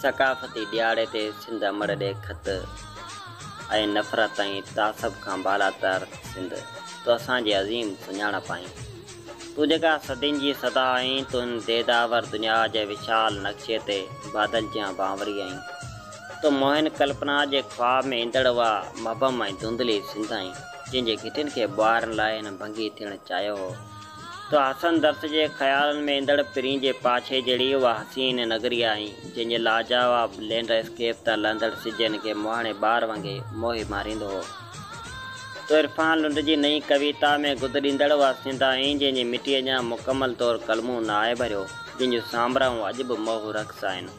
ثقافتي ڏياڙي تي سنڌ امڙ ڏي خط ۽ نفرت ۽ تعصب کان بالاتر سنڌ تو اسان جي عظيم سڃاڻپ آهين تون جيڪا صدين جي صدا آهين تون هن ديداور دنيا جي وشال نقشي تي بادل جيان بانوري آهين تو موهن ڪلپنا جي خواب ۾ ايندڙ اها مبهم ۽ ڌنڌلي سنڌ آهين. جن جي گهٽين کي ٻوهارڻ لاء هن ڀنگي ٿيڻ چاهيو هو. تو حسن درس جي خيالن ۾ ايندڙ پرين جي پاڇي جهڙي اها حسين نگري آهين، جنهن جي لاجواب لينڊ اسڪيپ تان لهندڙ سج هن کي مهاڻي ٻار وانگي موهي ماريندو هو. تو عرفان لنڊ جي نئين ڪويتا ۾ گد ڏيندڙ اها سنڌ آهين، جنهن جي مٽيء اڃا مڪمل طور ڪلمون نه آهي ڀريو، جنهن جون سامرائون اڄ به موهه رقص آهن.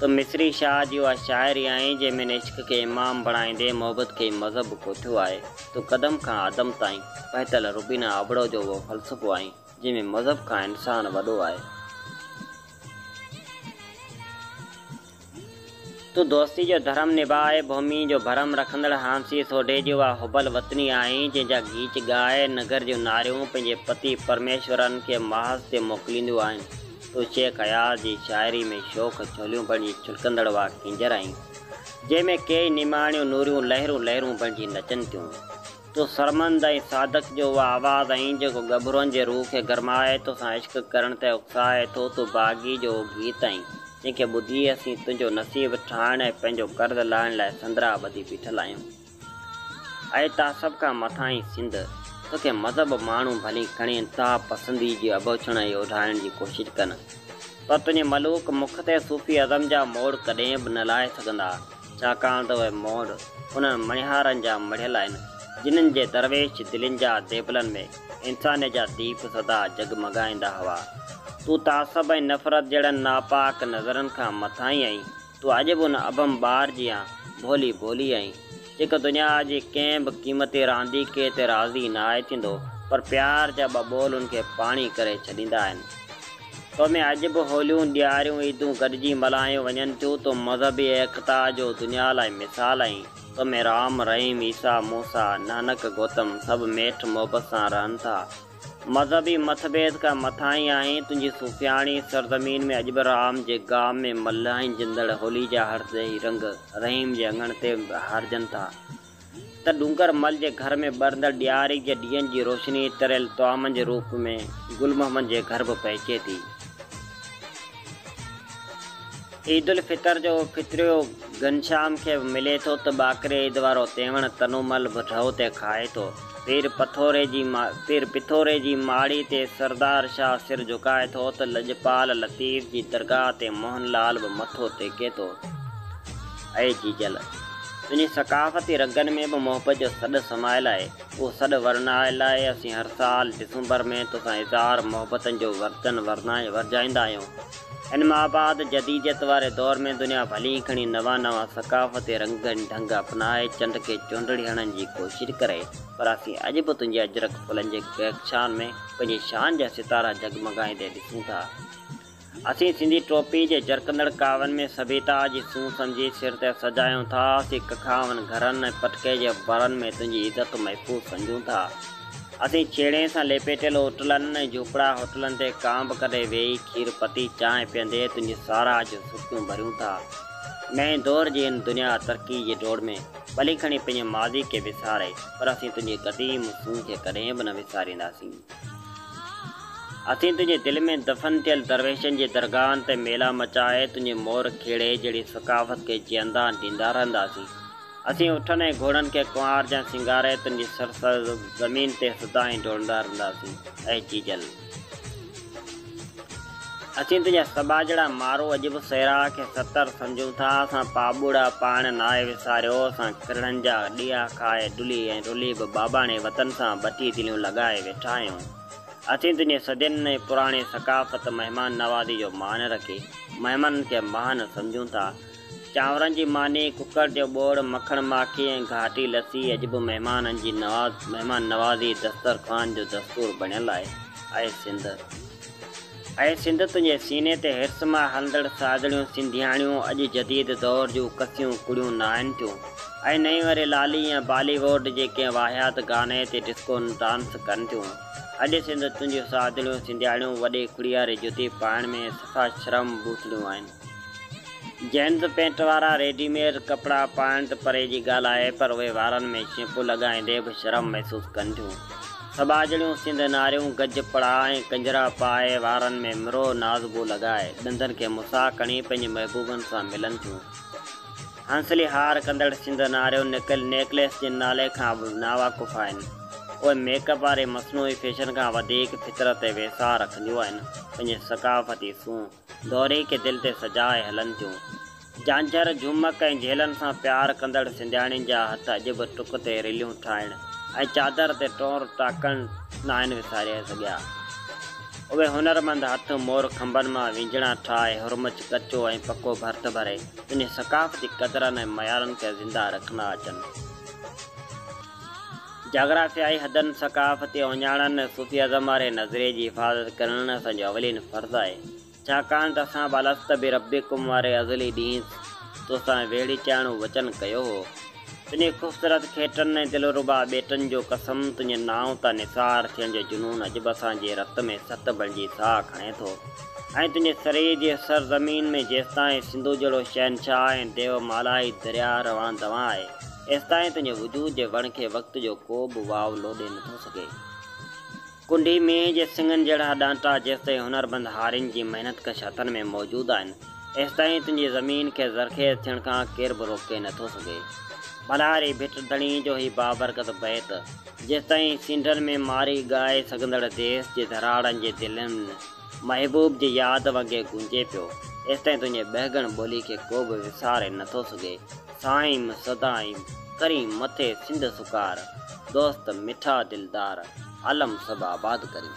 تون مصري شاهه جي اها شاعري آهين جنهن ۾ عشق کي امام بڻائيندي محبت کي مذهب به ڪوٺيو آهي. تون قدم کان عدم تائين پهتل روبينا ابڙو جو اهو فلسفو آهين جنهن ۾ مذهب کان انسان وڏو آهي. تون دوستي جو ڌرم نڀائي ڀومي جو ڀرم رکندڙ هانسي سوڍي جي اها حب الوطني آهين جنهن جا گيچ ڳائي نگر جون ناريون پنهنجي پتي پرميشورن کي محاذ تي موڪلينديون آهن. تو شيخ اياز جي شاعري ۾ شوخ ڇوليون بڻجي ڇلڪندڙ واء ڪينجهر آهين، جنهن ۾ ڪيئي نماڻيون نوريون لهرون لهرون بڻجي نچن ٿيون. تون سرمند ۽ صادق جو اها آواز آهين، جيڪو ڳڀرن جي روح کي گرمائي توسان عشق ڪرڻ تي اڪسائي ٿو. تون باغي جو اهو گيت آهين، جنهن کي ٻڌي اسين تنهنجو نصيب ٺاهڻ ۽ پنهنجو قرض لاهڻ لاء سندرا ٻڌي بيٺل آهيون. اي تا سڀ کان مٿاهين سنڌ، توکي مذهب ماڻهو ڀلي کڻي انتها پسندي جي اڀوڇڻ ۽ اوڍارڻ جي ڪوشش ڪن، پر تنهنجي ملوڪ مک تي صوفي ازم جا موڙ ڪڏهن به نه لائي سگهندا، ڇاڪاڻ ته اهي موڙ انهن مڻهارن جا مڙهيل آهن، جنن جي درويش دلين جا ديبلن ۾ انسانيت جا ديپ سدا جڳمڳائيندا هئا. تون تعصب ۽ نفرت جهڙن ناپاڪ نظرن کان مٿاهين آهين، تون عجب ان ابھم ٻار جيان ڀولي ڀولي آھين، جيڪو دنيا جي ڪنھن به قيمتي رانديڪي تي راضي ناھي ٿيندو، پر پيار جا ٻه ٻول ان کي پاڻي ڪري ڇڏيندا آھن. تو ۾ عجب ھوليون، ڏياريون، عيدون گڏجي ملھايون وڃن ٿيون، تون مذھبي ايڪتا جو دنيا لاء مثال آھين، تو ۾ رام، رحيم، عيسيٰ، موسيٰ، نانڪ، گوتم سڀ ميٺ محبت سان رھن ٿا. مذهبي مٿڀيد کان مٿاهين آهين، تنهنجي صوفياڻي سرزمين ۾ اڄ به رام جي گام ۾ ملهائين جندڙ هولي جا هرس ڏيهي رنگ رحيم جي اڱڻ تي هارجن ٿا ته ڏونگر مل جي گهر ۾ ٻرندڙ ڏياري جي ڏيئن جي روشني تريل طعامن جي روپ ۾ گل محمد جي گهر به پهچي ٿي. عيد الفطر جو فطريو گهنشام کي به ملي ٿو ته ٻاڪري عيد وارو تيوڻ تنومل به ڍؤ تي کائي ٿو. پير پٿوري جي پير پٿوري جي ماڙي تي سردار شاهه سر جهڪائي ٿو ته لڄپال لطيف جي درگاهه تي موهن لال به مٿو ٽيڪي ٿو. اي جيجل! تنهنجي ثقافتي رڳن ۾ به محبت جو سڏ سمايل آهي. اهو سڏ ورنائڻ لاء اسين هر سال ڊسمبر ۾ توسان اظهار محبتن جو وردن ورجائيندا آهيون. ان مان بعد جديديت واري دور ۾ دنيا ڀلي ئي کڻي نوان نوان ثقافتي رنگ ۽ ڍنگ اپنائي چنڊ کي چونڊڙي هڻڻ جي ڪوشش ڪري پر اسين اڄ به تنهنجي اجرڪ ڦلن جي ڪهڪشان ۾ پنهنجي شان جا ستارا جڳمڳائيندي ڏسون ٿا. اسين سنڌي ٽوپي جي جرڪندڙ ڪاوين ۾ سڀيتا جي سونهن سمجهي سر تي سجايون ٿا، اسين ڪکاون، گهرن ۽ پٽڪي جي برن ۾ تنهنجي عزت محفوظ سمجهون ٿا. اسين ڇيڻي سان ليپيٽيل اوٽلن ۽ جهوپڙا هوٽلن تي ڪانء به ڪڏهن ويهي کير پتي چانهه پيئندي تنهنجي ساراهه جون سرخيون ڀريون ٿا. نئين دور جي هن دنيا ترقي جي ڊوڙ ۾ ڀلي کڻي پنهنجي ماضي کي وساري پر اسين تنهنجي قديم سونهن کي ڪڏهن به نه وسارينداسين. اٿين تنهنجي دل ۾ دفن ٿيل درويشن جي درگاهن تي ميلا مچائي تنهنجي مور کيڙي جهڙي ثقافت کي جيئندا ڏيندا رهنداسين. اٿين اٺن ۽ گهوڙن کي ڪنوار جيان سينگاري تنهنجي سرسبز زمين تي سدائين ڊوڙندا رهنداسين. اي جيجل! اسين تنهنجا سٻاجهڙا مارو اڄ به سيراء کي ستر سمجهون ٿا، اسان پاٻوڙا پاڻ ناهي وساريو، اسان ڪرڙن جا ڏيئا کائي ڊلي ۽ رلي به باباڻي وطن سان ٻٽي دليون لڳائي ويٺا آهيون. اسين تنهنجي صدين ۽ پراڻي ثقافت مهمان نوازي جو مان رکي مهمانن کي مهان سمجهون ٿا، چانورن جي ماني، ڪڪڙ جو ٻوڙ، مکڻ ماکي ۽ گهاٽي لسي اڄ به مهمانن جي مهمان نوازي دستر خوان جو دستور بڻيل آهي. اي سنڌ! اي سنڌ! تنهنجي سيني تي حرص مان هلندڙ ساڄڻيون سنڌياڻيون اڄ جديد دور جون ڪسيون ڪڙيون ناهن ٿيون ۽ نه ئي وري لالي يا بالي ووڊ جي ڪنهن واهيات گاني تي ڊسڪو ڊانس ڪن ٿيون. اڄ سنڌ! تنهنجيون ساڄڻيون سنڌياڻيون وڏي کڙياري جتي پائڻ ۾ صفا شرم بوسڙيون آهن. جنھن به پينٽ وارا ريڊي ميڊ ڪپڙا پائڻ ته پري جي ڳالھه آھي پر اھي وارن ۾ شيمپو لڳائيندي به شرم محسوس ڪن ٿيون. سٻاجھڙيون سنڌ ناريون گج پڙا ۽ ڪنجرا پائي، وارن ۾ مرو نازبو لڳائي، ڏندن کي مسا ڪڻي پنھنجي محبوبن سان ملن ٿيون. ھنسلي ھار ڪندڙ سنڌ ناريون نڪل نيڪليس جي نالي کان به ناواقف آھن. اھي ميڪ اپ واري مصنوعي فيشن کان وڌيڪ فطرت تي ويساھه رکنديون آھن، پنھنجي ثقافتي سونھن، دوري کي دل تي سجاء هلن ٿيون. جھانجھر، جھومڪ ۽ جھيلن سان پيار ڪندڙ سنڌياڻين جا هٿ اڄ به ٽڪ تي رليون ٺاهڻ ۽ چادر تي ٽور ٽاڪڻ ناهن وساري سگھيا. اهي هنرمند هٿ مور کنڀن مان وينجھڙا ٺاهي هرمچ ڪچو ۽ پڪو ڀرت ڀري پنهنجي ثقافتي قدرن ۽ معيارن کي زنده رکندا اچن. جاگرافيائي حدن، ثقافتي اوڃاڻن، صوفي ازم واري نظريي جي حفاظت ڪرڻ اسان جو اولين فرض آهي، ڇاڪاڻ ته اسان به الست بربڪم واري ازلي ڏينهن تو سان ويڙهي چاهڻو وچن ڪيو هو. تنهنجي خوبصورت کيٽن ۽ دلربا ٻيٽن جو قسم، تنهنجي نانء تان نثار ٿيڻ جو جنون اڄ به اسان جي رت ۾ ست بڻجي ساهه کڻي ٿو ۽ تنهنجي سري جي سر زمين ۾ جيستائين سنڌو جهڙو شهنشاهه ۽ ديو مالائي درياهه روان دوان آهي، ايستائين تنهنجي وجود جي وڻ کي وقت جو ڪو به واو لوڏي نٿو سگهي. ڪنڍي مينهن جي سڱن جهڙا ڏانٽا جيستائين هنرمند هارين جي محنت ڪش هٿن ۾ موجود آهن، ايستائين تنهنجي زمين کي زرخيز ٿيڻ کان ڪير به روڪي نٿو سگهي. ڀلاري ڀٽ ڌڻي جو هي بابرڪت بيت، جيستائين سينڍن ۾ ماري ڳائي سگهندڙ ديس جي ڌراڙن جي دلين ۾، محبوب جي ياد وڳي گونجي پيو. ايستائين تنهنجي ٻهڳڻ ٻولي کي ڪو به وساري نه ٿو سگهي. سائيم سدائين ڪرين مٿي سنڌ سڪار. دوست مٺا دلدار عالم سڀ آباد ڪرين.